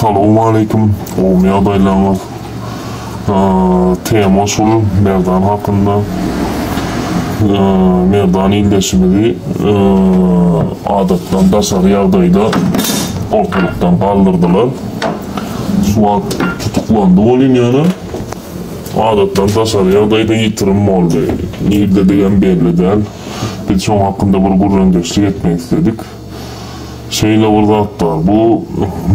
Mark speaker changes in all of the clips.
Speaker 1: Salowmaleýkim, gowmy ýagdaýlaryňyz? Tema şul Merdan hakynda. Merdan ildeşimizi adatdan daşary ýagdaýda ortalykdan galdyrdylar. Şu wagt tutuklandy ol ýöne adatdan daşary ýagdaýda ýitirim boldy. Nirdedigem belli däl. Biz şoň hakynda bir gürrüňdeşlik etmek isledik. Şeýle bir zat bar, bu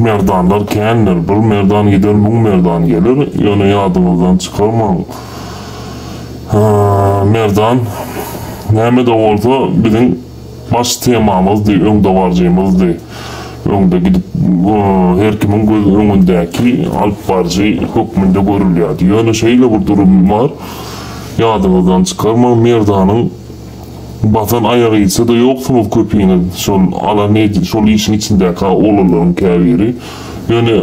Speaker 1: merdanlar kändir, bir merdan gider, müň merdan geler, ýöne ýadyňyzdan çykarmaň, merdan näme-de bolsa biziň baş temamyzdy, öňdebaryjymyzdy, öňde gidip, her kimiň göz öňündäki alypbaryjy hökmünde görülýärdi. Ýöne şeýle bir durum bar, ýadyňyzdan çykarmaň, merdanyň. Basan aýagysy-da ýoksuňyz köpiňiz, şol ala nejis, şol işiň içindäki-hä oglanlaryň käbiri. Ýöne,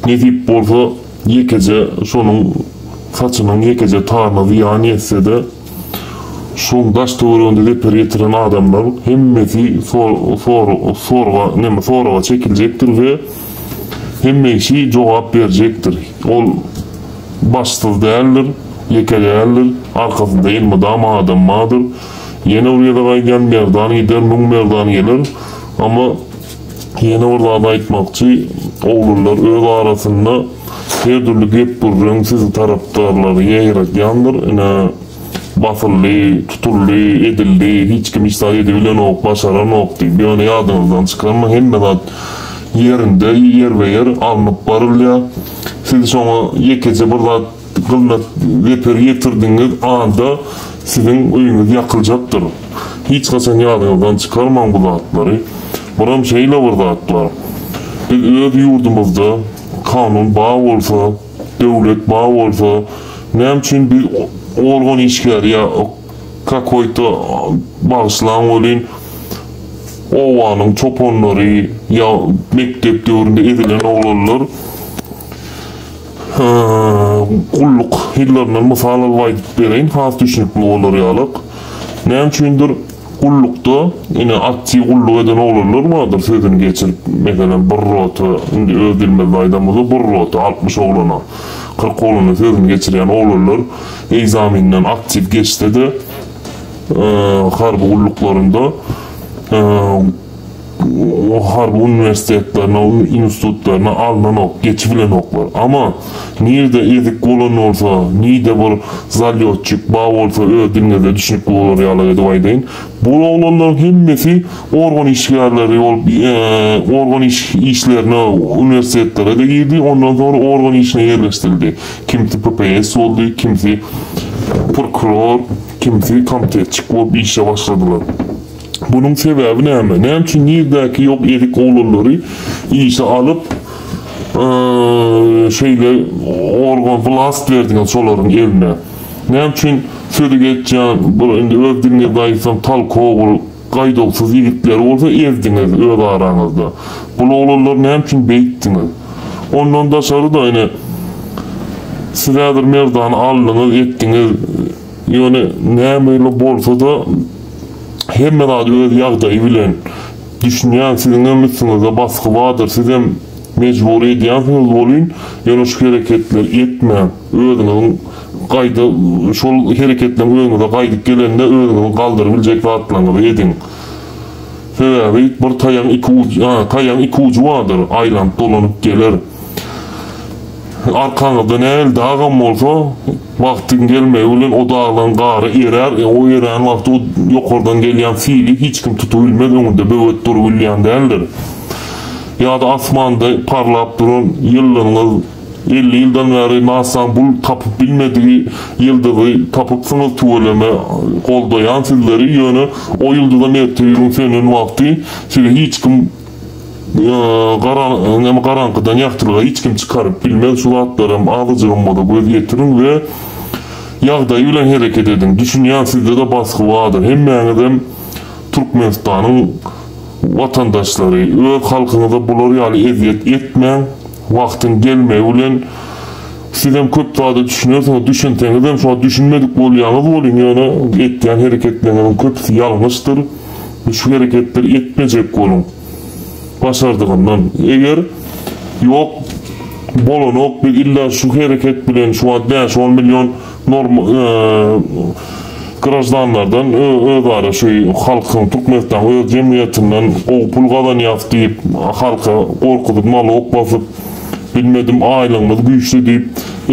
Speaker 1: nesip bolsa, ýekeje şonuň saçynyň ýekeje taryna zyýan ýetse-de, şoň daş-töwereginde zeper ýetiren adamlar hemmesi sor-sor-sorga, näme, soraga çekiljekdir we hemme kişi jogap berjekdir. Ol. Başsyz däldir, ýeke däldir, arkasynda elmydama adam bardyr. Ýene bir gezek aýdýan, merdan gider, müň merdan geler. Amma ýene bir zady aýtmakçy, oglanlar öz arasynda her dürli gep-gürrüň, sizi tarapdarlary ýaýradýandyr. Ine, basyldy, tutuldy, edildi, hiç kim hiç zat edibilenok, başaranok diýip. Ýöne ýadyňyzdan çykarmaň, hemme zat ýerinde, ýerbe-ýer alnyp barylýar. Siz şoňa ýekeje bir zat gylmyk zeper ýetirdigiňiz anda siziň öýüňiz ýakyljakdyr. Hiç haçan ýadyňyzdan çykarmaň bu zatlary. Biram şeýle bir zat bar. Biz öz ýurdumyzda kanun ba bolsa, döwlet ba bolsa näme üçin biz organ işgäri ýa Kakoýta bagyşlaň welin, obanyň çopanlary ýa mekdep döwründe ezilen oglanlar gulluk ýyllaryndan mysal alyp aýdyp bereýin, has düşünikli bolar ýalyk. Näme üçindir, gullukda, ine, aktiw gulluk eden oglanlar bardyr, sözüni geçirip, meselem, bir rota, indi öz dilimizde aýdan bolsa, bir rota, altmyş oglana, kyrk oglana sözüni geçirýän oglanlar Ekzamenden aktiw geçse-de, harby gulluklarynda harby uniwersitetlerine, institutlaryna alnanok, geçibilenoklar. Ama, nirde ezik bolan bolsa, nide bir zalýotçik ba bolsa öz diliňizde düşnükli bolar ýaly edip aýdaýyn, bul oglanlaryň hemmesi organ işgärleri bolup, organ işlerine uniwersitetlere-de girdi, ondan soňra organ işine ýerleşdirildi. Kimsi PPS boldy, kimsi prokuror, kimsi komitetçik bolup işe başladylar. Bunuň sebäbi näme? Näme üçin nirdäki ýok ezik oglanlary işe alyp, şeýle organ, wlast berdiňiz şolaryň eline? Näme üçin sözi geçýän, bir indi öz diliňizde aýtsam, tolkowyr Gaýduwsyz ýigitleri bolsa ezdiňiz öz araňyzda. Bul oglanlar näme üçin beýtdiňiz? Ondan daşary-da, ine, siz häzir merdana aldyňyz, etdiňiz. Ýöne näme-le bolsa-da, hemme zat öz ýagdaýy bilen. Düşünýän, siziňem üstüňizde basgy bardyr, sizem mejbury edýänsiňiz welin, ýöne şu hereketleri etmäň. Özüňiziň gaýda şol hereketleriň özüňize gaýdyp gelende özüňizi galdyrybiljek zatlaryňyzy ediň. Sebäbi bir taýagyň iki ujy, a, taýagyň iki ujy bardyr, aýlanyp dolanyp geler. Arkaňyzda nähili dagam bolsa, wagtyň gelmegi bilen o daglaryň gary erär, o erän wagty o ýokardan gelýän sili hiç kim tutubilmez, öňünde böwet durubilýän däldir. Ýa-da asmanda parlap duran ýyldyzyňyz. Elli ýyldan bäri Nasaň bul tapyp bilmedigi ýyldyzy tapypsyňyz tüweleme goldaýan sizleri ýöne o ýyldyzam ertir gün sönen wagty sizi hiç kim garaňkydan ýagtylyga hiç kim çykaryp bilmez şu zatlaram azajygam bolsa göz ýetiriň we ýagdaýy bilen hereket ediň düşünýän sizdede basgy bardyr hemmäňizem Türkmenistanyň watandaşlary öz halkyňyza bular ýaly ezýet etmäň Wagtyň gelmegi bilen sizem köp zada düşünersiňiz, düşünseňizem şoňa düşünmedik bolýaňyz boluň, ýöne etýän hereketleriňiziň köpüsi ýalňyşdyr we şu hereketleri etmejek boluň başardygyndan. Eger ýok, bolanok biz illa şu hereket bilen şu wagt bäş-on million Norm graždanlardan özara şu halkyň Türkmenistanyň öz jemgyýetinden gowy pul gazanýas diýip halka gorkuzyp nalog basyp bilmedim aýlygymyz güýçli diýip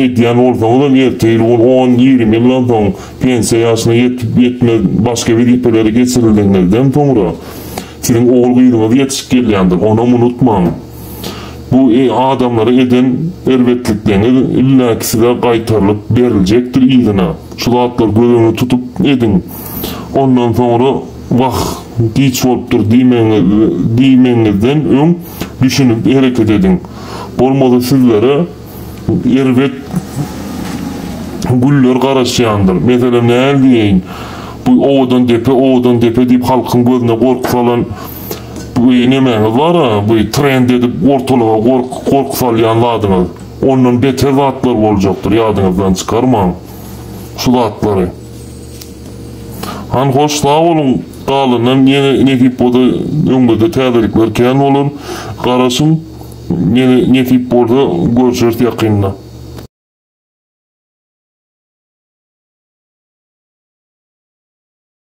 Speaker 1: edýän bolsaňyzam erte ýyl ol on ýigrimi ýyldan soň pensiýa ýaşyna ýetip ýetmez başga wezipelere geçirildigiňizden soňra siziň ogul gyzyňyz ýetişip gelýändir onam unutmaň. Bu adamlara eden erbetlikleňiz illaki size gaýtarylyp beriljekdir yzyna. Şu zatlary göz öňünde tutup ediň. Ondan soňra wah, giç bolupdyr diýmegiňizden öň düşünip hereket ediň. Bolmasa sizlere erbet günler garaşýandyr. Meselem näl diýeýin, bu Owadandepe, Owadandepe diýip halkyň gözüne gorky salan Bu nemäňiz bar-a, bu trend edip ortalyga gorky, gorky salýan zadyňyz. Ondan beter zatlar boljakdyr, ýadyňyzdan çykarmaň şu zatlary. Hany hoş, sag boluň, galanynam ýene nesip bolsa öňümizde täzelikler kän bolar. Garaşyň, ýene nesip bolsa görşeris ýakynda.